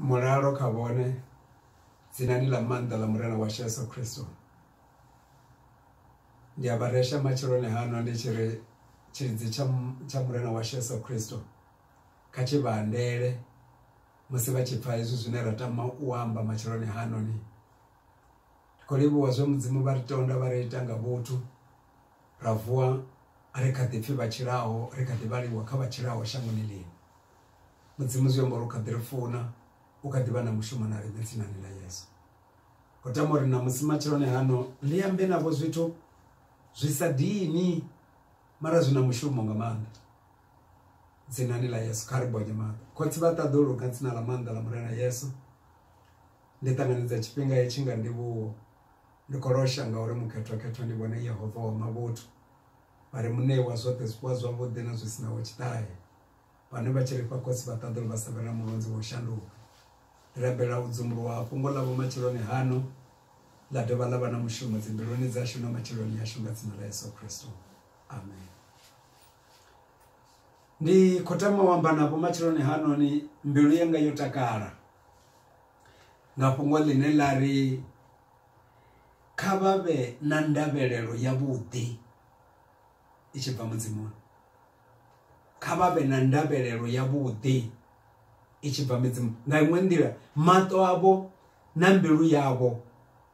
mulalo kha vhone dzinani ḽa maanḓa ḽa murena washu yesu khristo ndi a vharesha matsheloni hano ndi tshi ri tshilidzi tsha murena washu yesu khristo kha tshi vha andele musi vha tshi pfha hezwi zwine ra tama u amba matsheloni hanoni ndi khou livhuwa zwe mudzimu vha ri tonda vha ri ita nga vhuthu Ra vuwa ri kha ḓi pfi vha tshilaho, ri kha ḓi vhaliwa kha vha tshilaho shangoni ḽino. Mudzimu zwi amba uri u kha ḓi ri funa, u kha ḓi vha na mushumo na riṋe dzinani ḽa Yesu. Ho tama uri ṋamusi matsheloni hano ndi ambe navho zwithu zwi sa dini mara zwi na mushumo nga maanḓa dzinani ḽa Yesu. Kha ri bonye maanḓa. Khotsi vha ṱaḓulu nga dzina ḽa maanḓa ḽa Murena Yesu, ndi ṱanganedza tshifhinga hetshi nga ndivhuwo ndi khou losha ngauri mukhethwakhethwa ndi vhone yehova wa mavhuthu vha re muṋei wa zwoṱhe zwifuwa zwavhuḓi na zwi sinaho tshiṱahe vhane vha tshi lifha khosi vha ṱaḓulu vha sa vhe na mulonzi wa u shanduka ndi rabela u dzumbuluwa ha fhungo ḽavho matshiloni hano ḽa dovha ḽa vha na mushumo dzimbiluni dzashu na matshiloni ashu nga dzina ḽa yesu kristo amen ndi khou tama u amba navho matshiloni hanoni mbilu yanga yo takala nga fhungo ḽine ḽa ri kha vha vhe na ndavhelelo ya vhuḓi i tshi bva mudzimuni kha vha vhe na ndavhelelo ya vhuḓi i tshi bva midzimu nga iṅwe nḓila maṱo avho na mbilu yavho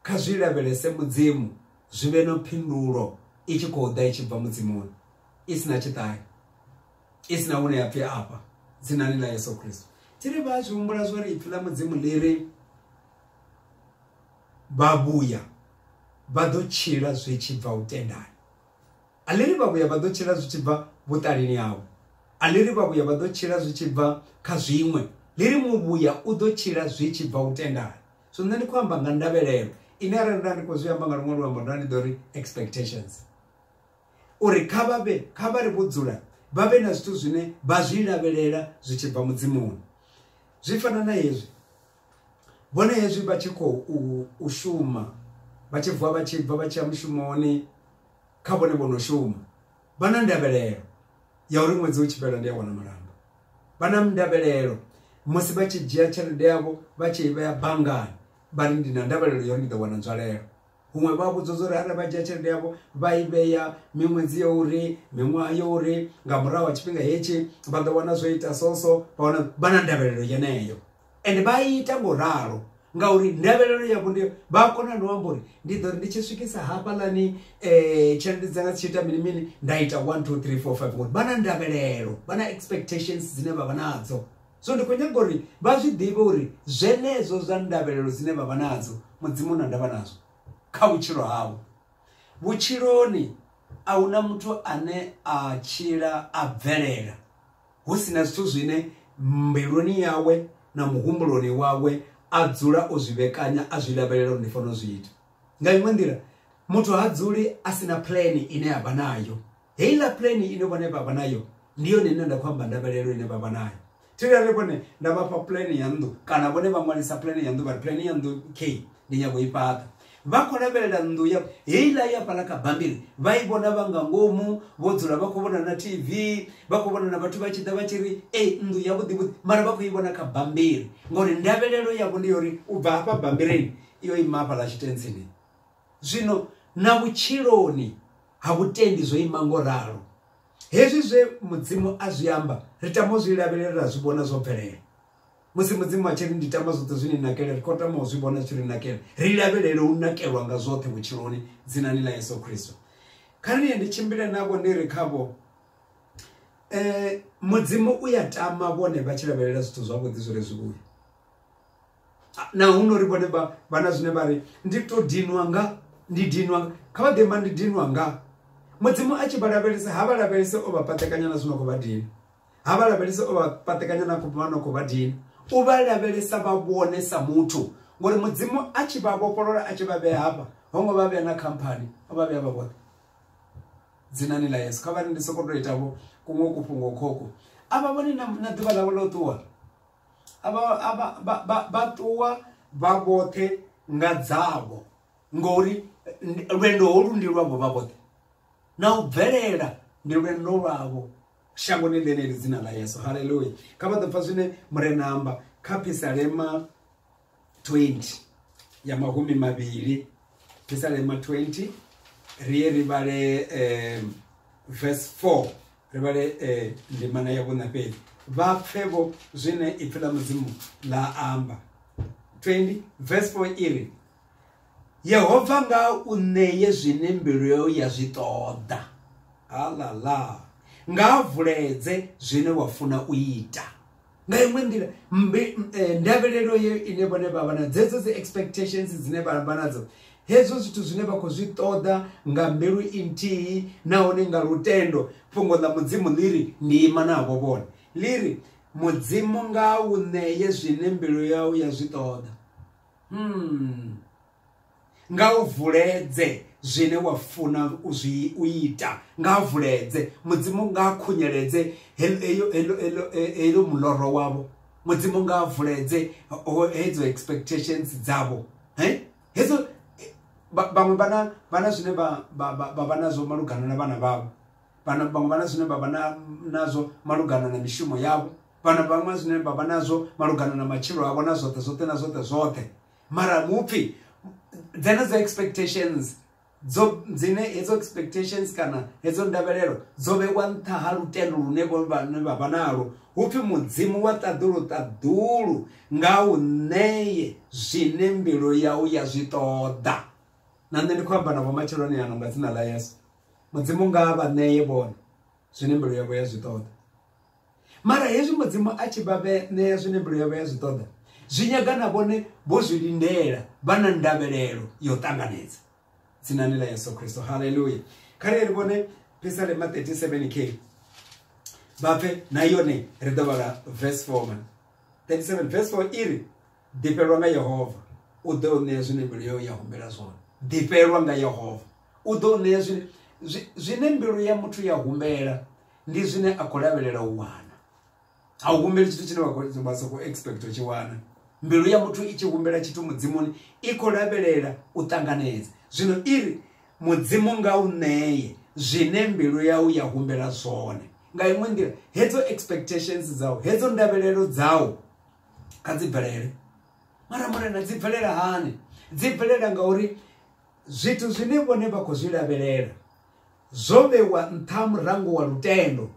kha zwi lavhelese mudzimu zwi vhe na phindulo i tshi khou ḓa i tshi bva mudzimuni i si na tshiṱahe i si na hune ya pfi afha dzinani ḽa yesu khristo thi ri vha zwi humbula zwo ri ipfi ḽa mudzimu ḽi ri vhavhuya vha ḓo tshila zwi tshi bva u tendani a ḽi ri vhavhuya vha ḓo tshila zwi tshi bva vhuṱalini hawe a ḽi ri vhavhuya vha ḓo tshila zwi tshi bva kha zwiṅwe ḽi ri muvhuya u ḓo tshila zwi tshi bva u tendani so nṋe ndi khou amba nga ndavhelelo ine arali nda ndi khou zwi amba nga luṅwe luambo nda ndi ḓo ri expectations uri kha vha vhe kha vha ri vho dzula vha vhe na zwithu zwine vha zwi lavhelela zwi tshi bva mudzimuni zwi fana na hezwi vhone hezwi vha tshi khou u shuma vha tshi vuwa vha tshi bva vha tshi ya mushumoni kha vhone vho no shuma vha na ndavhelelo ya uri ṅwedzi u tshi fhela ndi a wana malamba vha na ndavhelelo musi vha tshi dzhia tshelede yavho vha tshi i vhea banngani vha ri ndi na ndavhelelo ya uri ndi ḓo wana nzwalelo huṅwe vha vhudzwa zwa uri arali vha dzhia tshelede yavho vha i vhea miṅwedzi ya uri miṅwaha ya uri nga murahu ha tshifhinga hetshi vha ḓo wana zwo ita soso vha wana vha na ndavhelelo yeneyo ende vha ita ngo ralo ngauri ndavhelelo yavho ndi vha a kona no amba uri ndi ḓo ri ndi tshi swikisa hafhaḽani um tshelede dzanga dzi tshi ita mini mini nda ita one two three four five ngori vha na ndavhelelo vha na expectations dzine vha vha nadzo so ndi khou nyaga uri vha zwi ḓivhe uri zwenezwo zwa ndavhelelo dzine vha vha nadzo mudzimu na ndavha nazwo kha vhutshilo havho vhutshiloni a hu na muthu ane a tshila a bvelela hu si na zwithu zwine mbiluni yawe na muhumbuloni wawe a dzula o zwi vhekanya a zwi lavhelela uri ndi fanela u zwi ita nga iṅwe nḓila muthu ha dzuli a si na plan ine ya vha nayo heiḽa plan ine vhone vha vha nayo ndi yone ine nda khou amba ndavhelelo ine vha vha nayo thirare vhone nda vha fha plan ya nnḓu kana vhone vha ṅwalisa plan ya nnḓu vha plan ya nnḓu k ndi nyago i fhaṱa vha khou lavhelela nnḓu ya heiḽa ya fhala kha bammbiri vha i vhona vha nga ngomu vho dzula vha khou vhona na tv vha khou vhona na vhathu vha tshi ḓa vha tshi ri e nnḓu yavhuḓivhuḓi mara vha khou i vhona kha bammbiri ngori ndavhelelo yavho ndi yori u bva hafha bambirini yo ima hafha ḽa tshitentsini zwino na vhutshiloni ha vhutendi zwo ima ngo ralo hezwi zwe mudzimu a zwi amba ri tama u zwi lavhelela ra zwi vhona zwo bvelela musi mudzimu a tshi ri ndi tama zwoṱhe zwi ni nakele ri khou tama u zwi vhona tshi ri nakele ri lavhelele u nakelwa nga zwoṱhe vhutshiloni dzinani ḽa yesu khristo kha ri ye ndi tshimbile navho ndi ri khavho um eh, mudzimu u ya tama vhone vha tshi lavhelela zwithu zwavhuḓi zwi re zwivhuya na hu nori vhone vha vha na zwine vha ri ndi to dinwa nga ndi dinwa kha vha ḓemba ndi dinwa nga mudzimu a tshi vha lavhelesa ha vha lavhelese o vha patekanya na zwino khou vha dina ha vha lavhelese o vha patekanya na khou vha no khou vha dina u vha lavhelesa vha vhone sa muthu ngori mudzimu a tshi vha vhofholola a tshi vha vhea hafha ho ngo vha vhea na khamphani o vha vhea vha vhoṱhe dzinani ḽa yesu kha vha ri ndi sokou tou itavho kuṅwe kufhungo khoko a vha vhone na ḓuvha ḽavho ḽo ṱuwa vha ṱuwa vha vhoṱhe nga dzavho ngori lwendo holu ndi lwavho vha vhoṱhe na u bvelela ndi lwendo lwavho shangoni ḽeneli dzina ḽa yesu haleluya kha vha ḓo pfa zwine murena amba kha phisalema 20 ya mahumi mavhili pisalema 20 riye ri vhale um verse 4 ri vhale um eh, ndimana ya vhuna fhedzi vha pfe vho zwine ipfi ḽa mudzimu ḽa amba 20 verse 4 iri yehova nga u ṋeye zwine mbilu yau ya zwi ṱoḓa halala nga vuledze zwine wa funa u ita nga iṅwe nḓila eh, ndavhelelo ye ine vhone vha vha na dzedzo dzi expectations dzine vha vha nadzo hezwo zwithu zwine vha khou zwi ṱoḓa nga mbilu inthihi nahone nga lutendo fhungo ḽa mudzimu ḽi ri ndi ima navho vhone ḽi ri mudzimu nga u ṋeye zwine mbilu yau ya zwi ṱoḓa hmm. nga u vuledze zwine wa funa u zwi u ita nga vuledze mudzimu nga khunyeledze heyo heyo muloro wavho mudzimu nga vuledze hedzo expectations dzavho he hedzo vhaṅwe vhana vhana zwine vha vha nazwo malugana na vhana vhavho vhana vhaṅwe vhana zwine vha vha nazwo malugana na mishumo yavho vhana vhaṅwe zwine vha vha nazwo malugana na matshilo avho na zwoṱhe zwoṱhe na zwoṱhe zwoṱhe mara mupfi dzenedzo expectations dzo dzine hedzo expectations kana hedzo ndavhelelo dzo vhewa nṱha ha lutendo lune vhane vha vha nalo hu pfi mudzimu wa ṱaḓulu ṱaḓulu nga u ṋeye zwine mbilu yau ya zwi ṱoḓa na nṋe ndi khou amba na vhomatsheloni yanga nga dzina ḽa yesu mudzimu nga vha ṋeye vhone zwine mbilu yavho ya zwi ṱoḓa mara hezwi mudzimu a tshi vha ṋea zwine mbilu yavho ya zwi ṱoḓa zwi nyaga na vhone vho zwi lindela vha na ndavhelelo ya u ṱanganedza dzinani ḽa yesu kristo halleluya kha ri ri vhone pisalema 37 k vha pfe na yone ri ḓo vhala verse 4 man 37 verse 4 i ri ḓifhelwa nga yehova u ḓo u ṋea zwine mbilu yau ya humbela zwone ḓifhelwa nga yehova u ḓo u ṋea zwine zwine mbilu ya muthu ya humbela ndi zwine a khou lavhelela u wana a u humbeli tshithu tshine vha sa khou expect u tshi wana mbilu ya muthu i tshi humbela tshithu mudzimuni i khou lavhelela u ṱanganedza zwino i ri mudzimu nga u ṋeye zwine mbilu yau ya humbela zwone nga iṅwe nḓila hedzo expectations dzau hedzo ndavhelelo dzau kha dzi bvelele mara murena dzi bvelela hani dzi bvelela ngauri zwithu zwine vhone vha khou zwi lavhelela Zwo vhewa nṱha ha murango wa lutendo.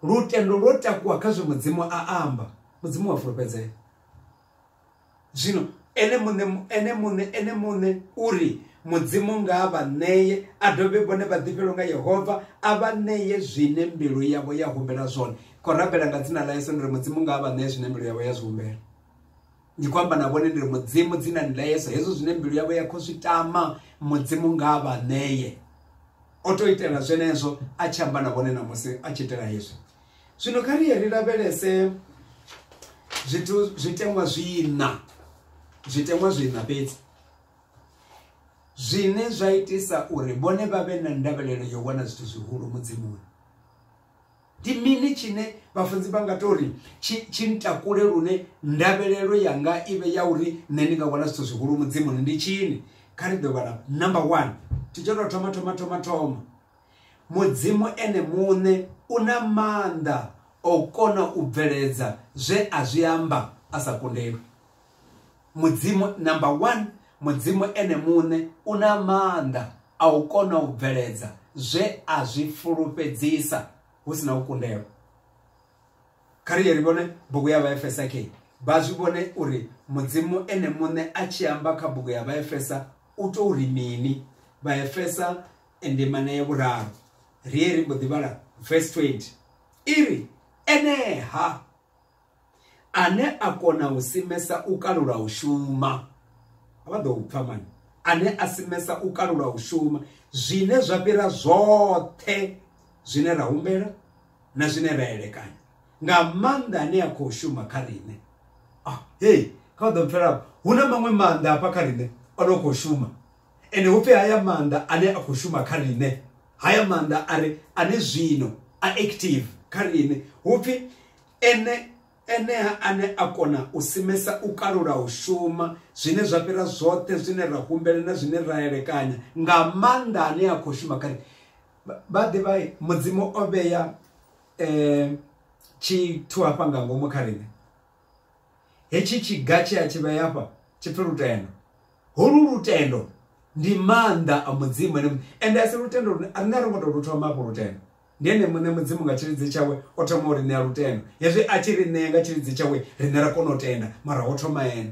Lutendo lwo takuwa kha zwe Mudzimu a amba. Mudzimu wa fulufhedzea. Zwino ene muṋe ene muṋe ene muṋe uri mudzimu nga a vha ṋeye a dovhe vhone vha ḓifhelwe nga yehova a vha ṋeye zwine mbilu yavho ya humbela zwone khou rabela nga dzina ḽa yesu ndi ri mudzimu nga a vha ṋeye zwine mbilu yavho ya zwi humbela ndi khou amba na vhone ndi ri mudzimu dzinani ḽa yesu hezwo zwine mbilu yavho ya khou zwi tama mudzimu nga vha ṋeye o to itela zwenezwo a tshi amba na vhone namusi a tshi itela hezwi zwino kha ri ye ri lavhelese zwithu zwiteṅwa zwiina zwiteṅwa zwiina fhedzi zwine zwa itisa uri vhone vha vhe na ndavhelelo yo wana zwithu zwihulu mudzimuni Ndi mini tshine vhafunzi vha nga tou ri tshi tshi ntakule lune ndavhelelo yanga i vhe ya uri nṋe ndi nga wana zwithu zwihulu Mudzimuni? Ndi tshini? Kha ri ḓo vhala number one, tshi tsho tou thoma thoma thoma thoma, Mudzimu ene muṋe u na maanḓa o kona u bveledza zwe a zwi amba a sa kundelwi. mudzimu number one mudzimu ene muṋe u na maanḓa a u kona u bveledza zwe a zwi fulufhedzisa hu si na u kundelwa kha ri ye ri vhone bugu ya vhaefesa ke vha zwi vhone uri mudzimu ene muṋe a tshi amba kha bugu ya vhaefesa u tou ri mini vhaefesa endemana ya vhuraru ri ye ri mbo ḓi vhala verse 20 i ri eneha ane a kona u simesa u kalula u shuma vha ḓo pfha mani ane a simesa u kalula u shuma zwine zwa fhira zwoṱhe zwine ra humbela na zwine ra elekanya nga maanḓa ane a khou shuma kha riṋe ah hey kha vha ḓo mpfhela hu na maṅwe maanḓa hafha kha riṋe o no khou shuma ende hu pfhi haya maanḓa ane a khou shuma kha riṋe haya maanḓa a re ane zwino a active kha riṋe hu pfhi Ene, Enea ane a kona u simesa u kalula u shuma, zwine zwa fhira zwoṱhe zwine ra humbela na zwine ra elekanya, nga maanḓa ane a khou shuma kha. Vha ḓivha, Mudzimu o vhea tshithu hafha nga ngomu kha riṋe. Hetshi tshiga tshe a tshi vhea hafha tshi pfi lutendo. Holu lutendo ndi maanḓa a Mudzimu ene muṋe, ende a si lutendo lune, riṋe a ro ngo tou lu thoma hafhu lutendo. Ndi ene muṋe Mudzimu nga tshilidzi tshawe o thoma u ri ṋea lutendo. Hezwi a tshi ri ṋea nga tshilidzi tshawe, riṋe ra kona u tenda, mara ho thoma ene.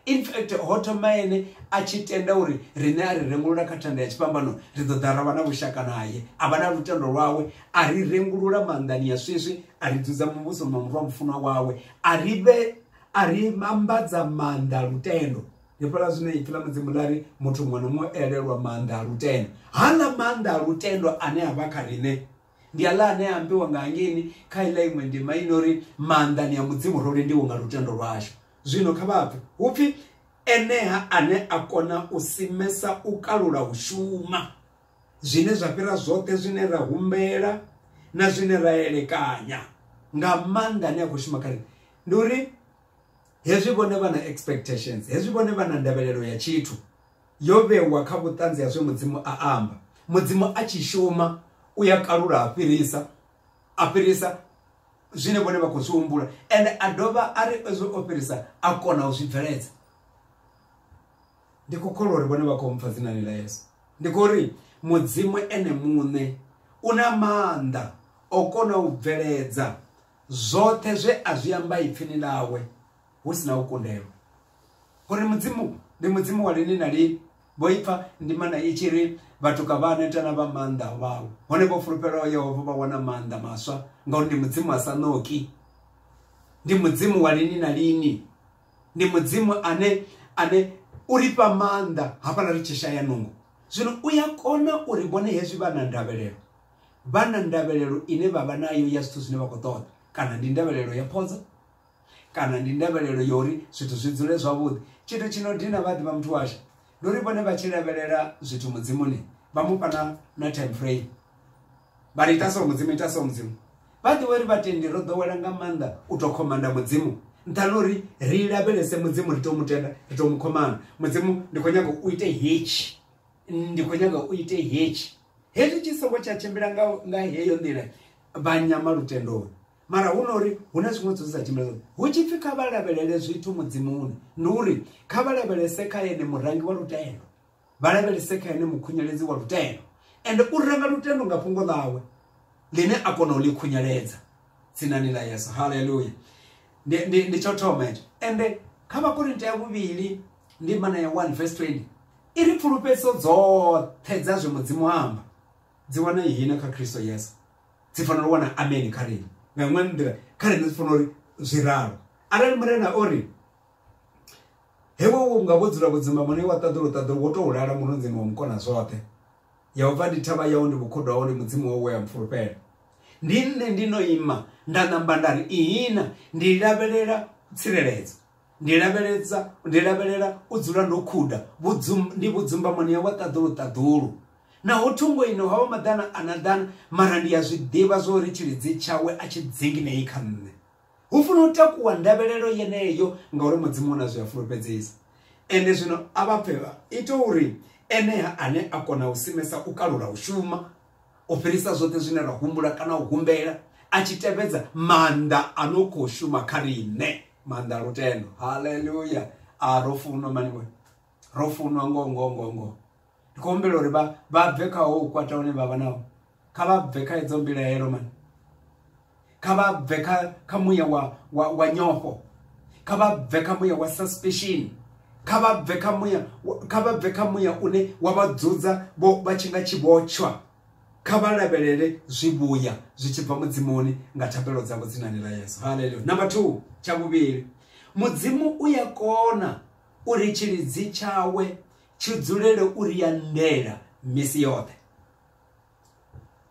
In fact, ho thoma ene a tshi tenda uri riṋe a ri rengulula kha thanda ya tshifhambano, ri ḓo ḓa ra vha na vhushaka naye. A vha na lutendo lwawe, a ri rengulula maanḓani a swiswi, a ri dzudza muvhusoni wa Murwa mufunwa wawe, a ri vhe a ri ambadza maanḓa a lutendo. ndi fhala zwine ipfi ḽa mudzimu ḽa ri muthu muṅwe na muṅwe elelwa maanḓa a lutendo haḽa maanḓa a lutendo ane a vha kha riṋe ndi aḽa ane a ambiwa nga hangeini kha iḽa iṅwe ndima i no ri maanḓani a mudzimu ro lendiwa nga lutendo lwashu zwino kha vhapfe hu pfhi eneha ane a kona u simesa u kalula u shuma zwine zwa fhira zwoṱhe zwine ra humbela na zwine ra elekanya nga maanḓa ane a khou shuma kha riṋe ndi uri hezwi vhone vha na expectations hezwi vhone vha na ndavhelelo ya tshithu yo vhewa kha vhuṱanzi ha zwe mudzimu a amba mudzimu a tshi shuma u ya kalula a fhirisa a fhirisa zwine vhone vha khou zwi humbula ende a dovha a ri ezwo o fhirisa a kona u zwi bveledza ndi khou kholwa uri vhone vha khou mpfa dzinani ḽa yesu ndi khou ri mudzimu ene muṋe u na maanḓa o kona u bveledza Zwoṱhe zwe a zwi amba ipfini ḽawe hu si na u kundelwa. U ri Mudzimu ndi Mudzimu wa lini na lini. Vho ipfa ndimana i tshi ri, Vhatuka vha a neta na vha maanḓa a vhawa. Hone vho fulufhelaho Yehova vha wana maanḓa maswa, ngauri ndi Mudzimu a sa ṋoki. Ndi Mudzimu wa lini na lini. Ndi Mudzimu ane ane u ri fha maanḓa hafhaḽa ri tshi shaya nungo. Zwino u ya kona uri vhone hezwi vha na ndavhelelo vha na ndavhelelo ine vha vha nayo ya zwithu zwine vha khou ṱoḓa kana ndi ndavhelelo ya phodzo kana ndi ndavhelelo ya uri zwithu zwi dzule zwavhuḓi tshithu tshi no dina vha ḓivha muthu washu ndi uri vhone vha tshi lavhelela zwithu mudzimuni vha mu fhana na time frame vha ri ita so mudzimu ita so mudzimu vha ḓivha uri vhatendi ro ḓowela nga maanḓa u tou khomanda mudzimu nṱhani uri ri lavhelese mudzimu ri tou mutenda ri tou mu khomana mudzimu ndi khou nyanga u ite hetshi ndi khou nyaga u ite hetshi hezwi tshi songo tsha tshimbila nga nga heyo nḓila vha nyama lutendoni mara hu na uri hu na zwiṅwe zwithu sa tshimbila hu tshi pfhi kha vha lavhelele zwithu mudzimuni ndi uri kha vha lavhelese kha ene murangi wa lutendo vha lavhelese kha ene mukhunyeledzi wa lutendo ende u ranga lutendo nga fhungo ḽawe ḽine a kona u ḽi khunyeledza tsinani ḽa yesu haleluya ndi, ndi, ndi tsho thoma hetsho ende kha vhakorinta ya vhuvhili ndi mana ya 1 verse 20 i ri pfulufhedziso dzoṱhe dza zwe mudzimu amba dzi wana ihina kha kristo yesu dzi fanela u wana ameni kha rine nga iṅwe nḓila kha rine dzi fanela uri zwi ralo arali murena o ri hewe wo nga vho dzula vhudzima mune wa ṱaḓula u ṱaḓula wo tou lala murunzini wa mukona zwoṱhe yehova ndi thavha yau ndi vhukhudo hau ndi mudzimu wau we a mpfulufhela ndi nṋe ndi no ima nda namba nda ri ihina ndi lavhelela tsireledzo ndi lavheledza ndi lavhelela u dzula ndo khuda ndi vhudzumbamoni ya wa ṱaḓulu ṱaḓulu naho thungo ino ha wa maḓana a na ḓana mara ndi ya zwi ḓivha zwo ri tshilidzi tshawe a tshi dzinginei kha nṋe Hu funa u takuwa ndavhelelo yeneyo ngauri Mudzimu u na zwe a fulufhedzisa. Ende zwino a vha pfe vha ite uri Enea ane a kona u simesa u kalula u shuma u fhirisa zwoṱhe zwine ra humbula kana u humbela a tshi tevhedza maanḓa a no khou shuma kha riṋe maanḓa a lutendo. Haleluya! A ro funwa mani we. Ro funwa ngoho ngoho ngoho ngoho. ndi khou humbela uri vha vha bve kha ho u kwata hune vha vha naho kha vha bve kha edzo mbilaelo mani kha vha bve kha kha muya wa wa, wa nyofho kha vha bve kha muya wa suspicion kha vha bve kha muya kha vha bve kha muya une wa vha dzudza vho vha tshi nga tshivhotshwa kha vha lavhelele zwivhuya zwi tshi bva mudzimuni nga thapelo dzavho dzinani ḽa yesu haleluya number two tsha vhuvhili mudzimu u ya kona uri tshilidzi tshawe tshi dzulele u ri ya ndela misi yoṱhe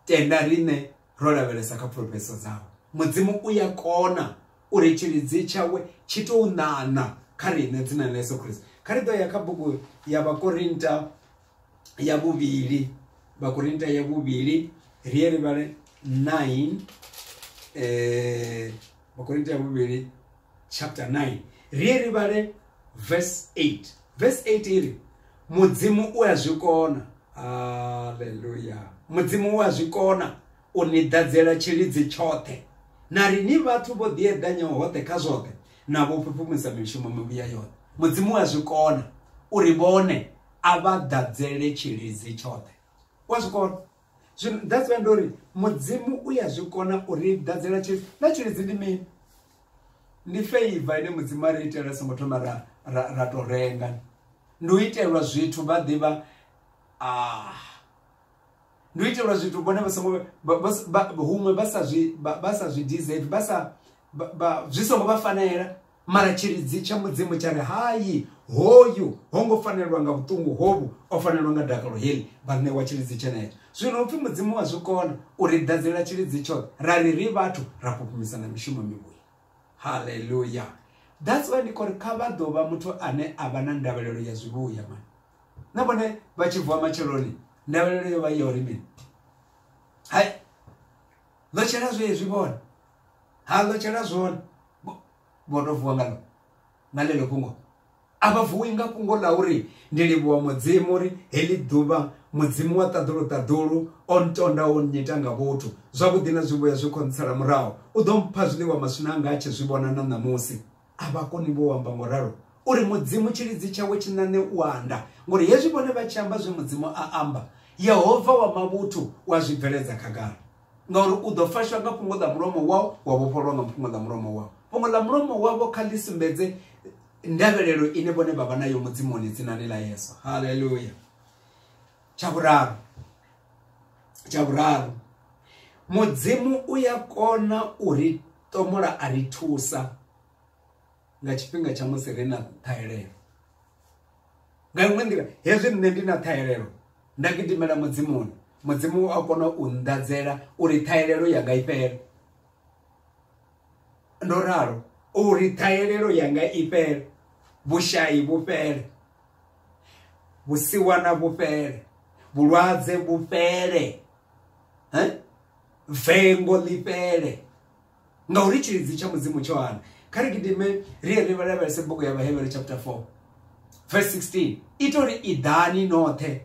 tenda riṋe ro lavhelesa kha phulofheso dzawe mudzimu u ya kona uri tshilidzi tshawe tshi tou ṋaṋa kha riṋe dzina ḽa yesu khristo kha ri ḓo ya kha bugu ya vhakorinta ya vhuvhili vhakorinta ya vhuvhili ri ye ri vhale 9 eh vhakorinta ya vhuvhili chapter 9 ri ye ri vhale verse 8 verse 8 i ri mudzimu u a zwi kona haleluya mudzimu u a zwi kona u ni ḓadzela tshilidzi tshoṱhe na ri ni vhathu vho ḓieḓanyaho hoṱhe kha zwoṱhe na vho fhufhumisa mishumo mivhuya yoṱhe mudzimu u a zwi kona uri vhone a vha ḓadzele tshilidzi tshoṱhe u a zwi kona zwino that's why ndori mudzimu u ya zwi kona uri dadzela tshi na tshilidzi ndi mini ndi favor ine mudzimu a ri itela songo thoma ra ra, ra to renga ndi u itelwa zwithu vha ḓivha ah ndi u itelwa zwithu vhone vha songo huṅwe vha sa zwi vha sa zwi deserve vha sa zwi songo vha fanela Mara tshiridzi tsha Mudzimu tsha ri, Hai, hoyu ho ngo fanelwa nga vhuṱungu hovhu, o fanelwa nga dakalo heḽi, vha ṋewa tshiridzi tshenetsho. Zwino upfi Mudzimu wa zwi kona u ri ḓadzela tshiridzi tshoṱhe, ra ri ri vhathu ra fhufhumisa na mishumo mivhuya. Haleluya! That's why ndi khou ri kha vha ḓo vha muthu ane a vha na ndavhelelo ya zwivhuya mani. Na vhone vha tshi vuwa matsheloni ndavhelelo yo vha i ya uri mini? Hai, ndo tshela zwezwi vhone. ha anḓatshela zwone vho no vuwa nga nga ḽeḽo fhungo a vha vuwi nga fhungo ḽa uri ndi livhuwa mudzimu uri heḽi ḓuvha mudzimu wa ṱaḓulu ṱaḓulu o ntonda o nnyita nga vhuthu zwavhuḓi na zwivhuya zwi khou ntsala murahu u ḓo mpha zwiḽiwa maswina anga a tshi zwi vhona na ṋamusi a vha koni vho amba ngo ralo uri mudzimu tshilidzi tshawe tshi ṋaṋe u anda ngori hezwi vhone vha tshi amba zwe mudzimu a amba yehova wa mavhuthu wa zwi bveledza khagala Ngauri u ḓo fashwa nga fhungo ḽa mulomo wau, wa vhofhololwa nga fhungo ḽa mulomo wau. Fhungo ḽa mulomo wavho kha ḽi sumbedze ndavhelelo ine vhone vha vha nayo Mudzimuni dzinani ḽa Yesu. Haleluya! Tsha vhuraru, tsha vhuraru, Mudzimu u ya kona u ri ṱomola a ri thusa. nga tshifhinga tsha musi ri na ṱhahelelo nga iṅwe nḓila hezwi nṋe ndi na ṱhahelelo nda gidimela mudzimuni mudzimu a kona u nḓadzela uri ṱhahelelo yanga i fhele ndo ralo uri ṱhahelelo yanga i fhele vhushayi vhu fhele vhusiwana vhu fhele vhulwadze vhu fhele vengo ḽi fhele ngauri tshilidzi tsha mudzimu tsho hana kha ri gidime ri ye ri lavhelese bugu ya vhahevhere chapter 4 verse 16 ita uri iḓani noṱhe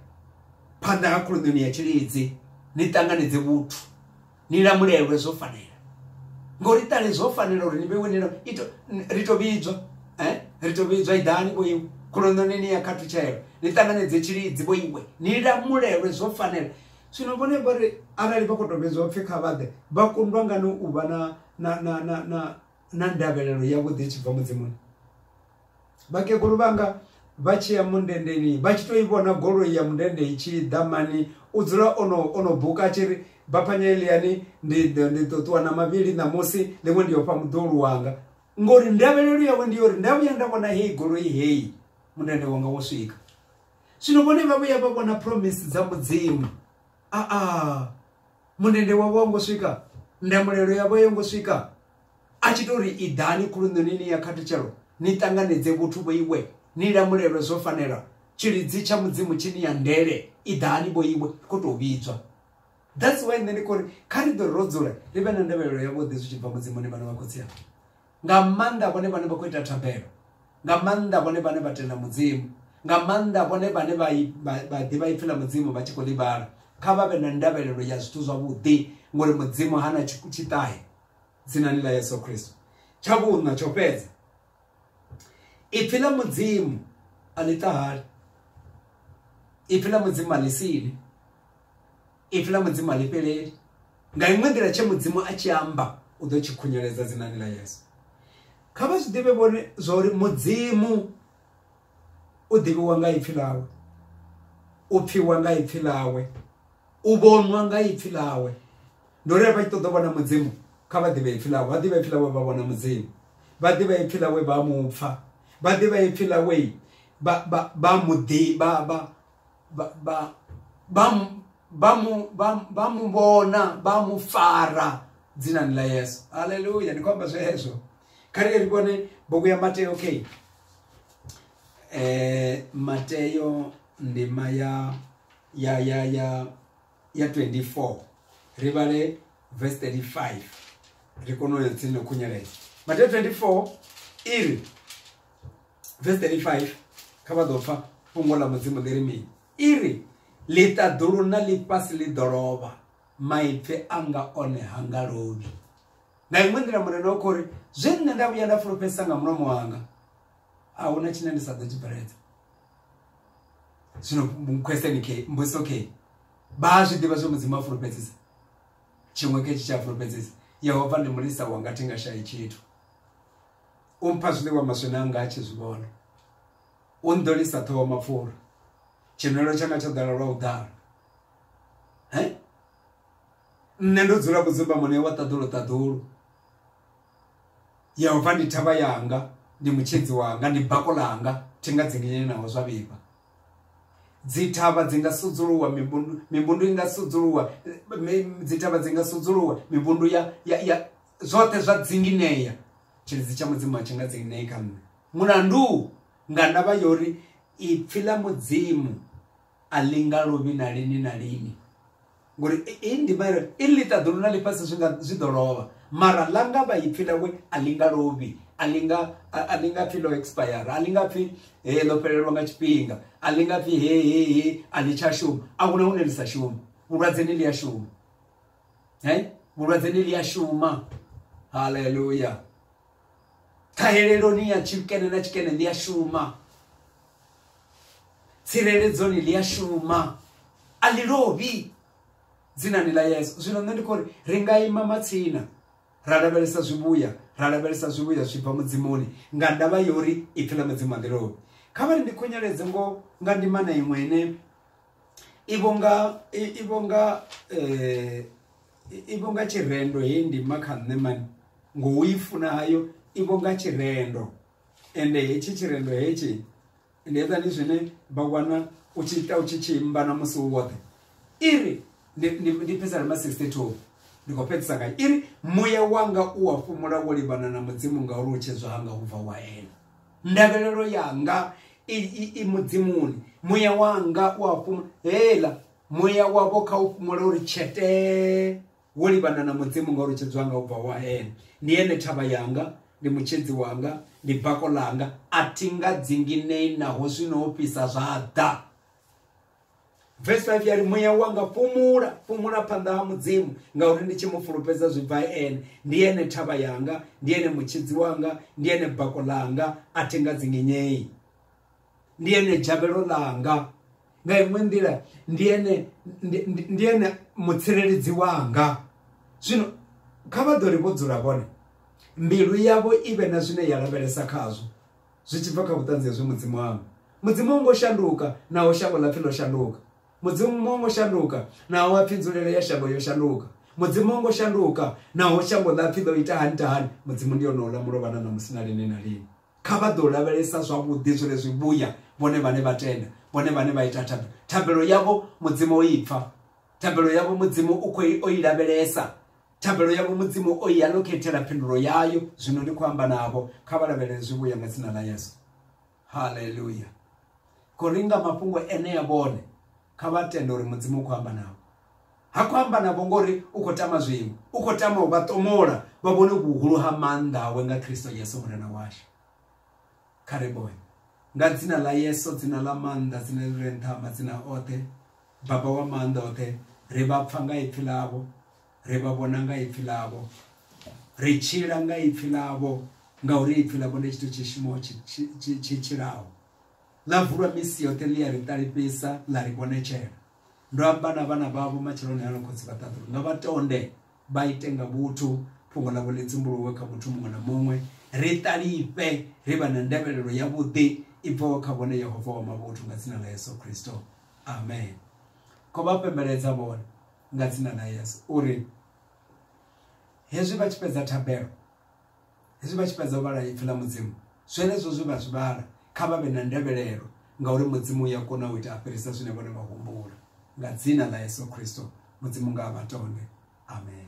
phanḓa ha khuluṋoni ya tshilidzi ni ṱanganedze vhuthu ni lamulelwe zwo fanela ngori ṱale zwo fanela uri ni vheiwe nilo ito ri to vhidzwa eh ri to vhidzwa iḓani vho iwe khuluṋoni ni ya khathutshelo ni ṱanganedze tshilidzi vho iwe ni lamulelwe zwo fanela Zwino vhone vha ri, Arali vha khou tou vhidzwa upfi kha vha ḓe, vha kundwa ngani u vha na, na, na, na, na, na ndavhelelo yavhuḓi i tshi bva Mudzimuni? Vhakegulu vhanga vha tshi ya mundendeni vha tshi tou i vhona goloi ya mundende i tshi ḓa mani u dzula o no, o no buka a tshi ri, Baphanya Eliani, ndi, ndi ḓo ṱuwa na mavhili ṋamusi, ḽiṅwe ndi yo fha muḓulu wanga. Ngori ndavhelelo yawe ndi yo ri, Nda vhuya nda vhona heyi goloi heyi, mundende wanga wo swika. Zwino vhone vha vhuya vha vhona promise dza Mudzimu. A a munende wavho wa ngo swika, ndamulelo yavho yo ngo swika. A tshi tori i ḓani khuluṋoni ni ya khathutshelo, ni ṱanganedze vhuthu vho iwe, ni lamulelwe zwo fanela. Tshilidzi tsha Mudzimu tshi ni ya ndele, i ḓani vho iwe, kho to vhidzwa. That's why nṋe ndi khori kha ri ḓo ro dzula ri vhe na ndavhelelo yavhuḓi zwi tshi bva Mudzimuni vhana vha khotsi anga. nga maanḓa vhone vhane vha khou ita thabelo nga maanḓa vhone vhane vha tenda mudzimu nga maanḓa vhone vhane vha ḓivha ipfi ḽa mudzimu vha tshi khou ḽi vhala kha vha vhe na ndavhelelo ya zwithu zwavhuḓi ngori mudzimu ha na tshiṱahe dzinani ḽa yesu khristo tsha vhuṋa tsho fhedza ipfi ḽa mudzimu a ḽi ṱahali ipfi ḽa mudzimu a ḽi sili Ipfi ḽa Mudzimu a ḽi fheleli. Nga iṅwe nḓila, tshe Mudzimu a tshi amba u ḓo tshi khunyeledza dzinani ḽa Yesu. Kha vha zwi ḓivhe vhone zwa uri Mudzimu u ḓivhiwa nga ipfi ḽawe, u pfiwa nga ipfi ḽawe, u vhonwa nga ipfi ḽawe. Ndi uri vha tshi ṱoḓa u vhona Mudzimu kha vha ḓivhe ipfi ḽawe, vha ḓivha ipfi ḽawe vha vhona Mudzimu, vha ḓivha ipfi ḽawe vha mu pfa, vha ḓivha ipfi ḽawe vha vha vha mu ḓivha vha vha- vha- vha mu- vha mu- vha- vha mu vhona vha mu fara dzinani ḽa yesu haleluya ndi khou amba zwezwo kha ri ye ri vhone bugu ya mateo okay eh Mateo ndima ya ya ya ya ya 24 ri vhale verse 35 ri kono ya tsini khunyeledza Mateo 24 iri vese 35 kha vha ḓo pfa fhungo ḽa mudzimu ḽi ri mini i ri ḽiṱaḓulu na ḽifhasi ḽi ḓo lovha maipfi anga one ha nga lovhi nga iṅwe nḓila murena wa khori zwe nṋe nda vhuya nda fulufhedzisa nga mulomo wanga a huna tshine ndi sa ḓo tshi bveledza zwino question ke mbudziso ke vha a zwi ḓivha zwe mudzimu a fulufhedzisa tshiṅwe ke tshi tshi a fulufhedzisa yehova ndi mulisa wanga thi nga shayi tshithu u mpha zwiḽiwa maswina anga a tshi zwi vhona u nḓolisa ṱhoho mapfura tshinwelo tshanga tsho ḓala lwa u ḓala he nṋe ndo dzula kudzimba mune wa ṱaḓulu ṱaḓulu ya u pfa ndi thavha yanga ndi mutshedzi wanga ndi bako langa thi nga dzinginyeni naho zwa vhifha dzithavha dzi nga sudzuluwa mivhundu mivhundu i nga sudzuluwa dzithavha dzi nga sudzuluwa mivhundu ya ya ya zwoṱhe zwa dzingineya tshilidzi tsha mudzimu a tshi nga dzinginei kha nṋe mulandu nga ndavha ya uri ipfhi ḽa mudzimu a linga luvhi na lini na lini ngori i ndima iri i ḽi ṱaḓulu na ḽifhasi zwi nga zwi ḓo lovha mara ḽa nga vha ipfhi ḽawe a linga luvhi a linga a linga pfhi ḽo expire a linga pfhi he ḽo fhelelwa nga tshifhinga a linga pfhi he he he a ḽi tsha shuma a huna hune ḽi sa shuma vhulwadze ni ḽi a shuma hey? vhulwadze ni ḽi a shuma haleluya ṱhaheleloni ya tshikene na tshikene ḽi a shuma tsireledzoni ḽi a shuma a ḽi lovhi dzinani ḽa yesu zwino nṋe ndi khou ri ri nga ima matsina ra lavhelesa zwivhuya ra lavhelesa zwivhuya zwi bva mudzimoni nga ndavha yori ipfi ḽa mudzimu a ḽi lovhi kha vhari ndi khunyeledze ngo nga ndima na iṅwe ine i vho nga i vho nga eh i vho nga tshirendo heyi ndima kha nṋe mani ngo i funa hayo i vho nga tshirendo ende hetshi tshirendo hetshi ndi hezwani zwine vha wana u tshi ita u tshi tshi imba na musi u woṱhe iri ndi ndi pfesa na ma 62 ndi khou fhedzisa ngayo iri muya wanga u wa fhumula wo livhana na mudzimu ngauri u tshedzwa hanga ubva wa ene ndavhelelo yanga i, i, i mudzimuni muya wanga u a fhuma hela muya wavho kha u fhumula uri tshetee wo livhana na mudzimu ngauri tshedzi wanga u bva wa ene ndi ene thavha yanga ndi mutshedzi wanga ndi bako langa a thi nga dzinginei naho zwino ho fhisa zwa ḓa vesi 5 ya ri muya wanga fhumula fhumula phanḓa ha mudzimu ngauri ndi tshi mu fulufhedza zwi bva ene ndi ene thavha yanga ndi ene mutshidzi wanga ndi ene bako ḽanga a thi nga dzingenyei ndi ene dzhavhelo ḽanga nga iṅwe nḓila ndi ene ndi ene mutsireledzi wanga zwino kha vha ḓo ri vho dzula vhone mbilu yavho i vhe na zwine ya lavhelesa khazwo zwi tshi bva kha vhuṱanzi hezwi mudzimu wanga mudzimu wo ngo shanduka naho shango ḽa pfhi ḽo shanduka mudzimu wo ngo shanduka naho wa pfhi nzulelo ya shango yo shanduka mudzimu wo ngo shanduka naho shango ḽa pfhi ḽo ita hani ta hani mudzimu ndi yone ola mulovha na ṋamusi na lini na lini kha vha ḓo lavhelesa zwavhuḓi zwine zwi vhuya vhone vhane vha tenda vhone vhane vha ita thabelo thabelo yavho mudzimu o ipfa thabelo yavho mudzimu u khou o i lavhelesa thabelo yavho mudzimu o i alokethela phindulo yayo zwino ndi khou amba navho kha vha lavhelele zwi vhuya nga dzina ḽa yesu haleluya khou ringa mafhungo enea vhone kha vha tende uri mudzimu u khou amba navho ha khou amba navho ngori u khou tama zwiṅwe u khou tama u vha ṱomola vha vhone vhuhulu ha maanḓa awe nga kristo yesu murena washu kha ri boye nga dzina ḽa yesu dzina ḽa maanḓa dzina ḽi re nṱha madzina oṱhe baba wa maanḓa oṱhe ri vha pfa nga ipfi ḽavho Ri vha vhona nga ipfi ḽavho, ri tshila nga ipfi ḽavho, ngauri ipfi ḽavho ndi tshithu tshi shumaho tshi tshilaho. Ḽa vulwa misi yoṱhe ḽi a ri ṱalifhisa ḽa ri vhonetshela. Ndo amba na vhana vhavho matsheloni ano khotsi vha ṱaḓulu nga vha tonde vha ite nga vhuthu fhungo ḽavho ḽi dzumbuluwe kha muthu muṅwe na muṅwe ri ṱalifhe ri vha na ndavhelelo ya vhuḓi i bvaho kha vhone Yehova wa mavhuthu nga dzina ḽa Yesu Kristo amen kho vha pembeledza vhone nga dzina ḽa yesu uri hezwi vha tshi fhedza thabelo hezwi vha tshi fhedza u vhala ipfi ḽa mudzimu zwenezwo zwe vha zwi vhala kha vha vhe na ndevhelelo ngauri mudzimu uya kona u ita a fhirisa zwine vhone vha humbula nga dzina ḽa yesu khristo mudzimu nga a vha tonde amen